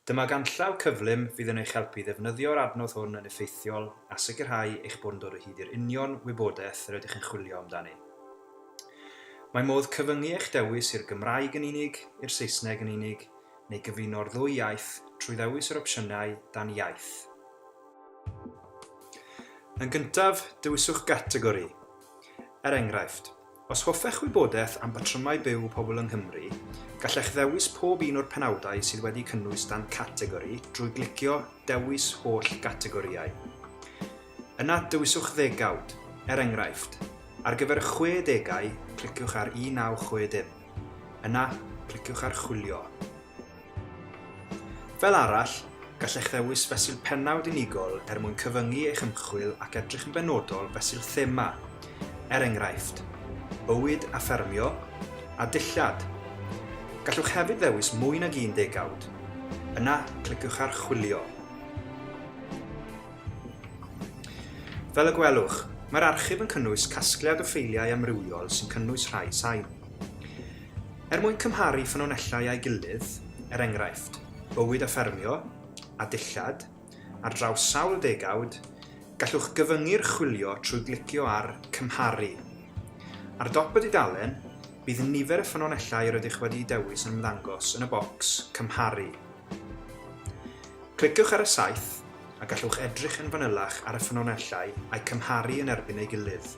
Dyma ganllaw cyflym fydd yn eich helpu i ddefnyddio'r adnodd hwn yn effeithiol a sicrhau eich bod yn dod o hyd i'r union wybodaeth yr ydych yn chwilio amdani. Mae modd cyfyngu eich dewis i'r Gymraeg yn unig, i'r Saesneg yn unig, neu gyfuno'r ddwy iaith trwy ddewis yr opsiynau dan iaith. Yn gyntaf, dewiswch gategori. Er enghraifft, os hoffech wybodaeth am batrymau byw pobl yng Nghymru, gallech ddewis pob un o'r penawdau sydd wedi cynnwys dan categori drwy glicio Dewis Holl Gategorïau. Yna, dewiswch ddegawd. Er enghraifft, ar gyfer y chwe degau, cliciwch ar 1960. Yna, cliciwch ar Chwilio. Fel arall, gallech ddewis fesul pennawd unigol er mwyn cyfyngu eich ymchwil ac edrych yn benodol fesul thema, er enghraifft, Bywyd a Ffermio a Dillad. Gallwch hefyd ddewis mwy nag un degawd. Yna, cliciwch ar Chwilio. Fel y gwelwch, mae'r archif yn cynnwys casgliad o ffeiliau amrywiol sy'n cynnwys rhai sain. Er mwyn cymharu ffynonellau â'i gilydd, er enghraifft, bywyd a ffermio, a dillad, ar draws sawl degawd, gallwch gyfyngu'r chwilio trwy glicio ar 'Cymharu'. Ar dop y dudalen, bydd nifer y ffynonellau rydych wedi'u dewis yn ymddangos yn y bocs 'Cymharu'. Cliciwch ar y saeth, a gallwch edrych yn fanylach ar y ffynonellau a'u cymharu yn erbyn ei gilydd.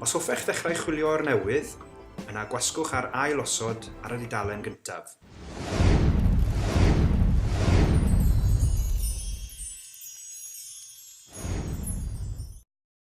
Os hoffech ddechrau chwilio o'r newydd, yna gwasgwch ar Ail osod ar y dudalen gyntaf.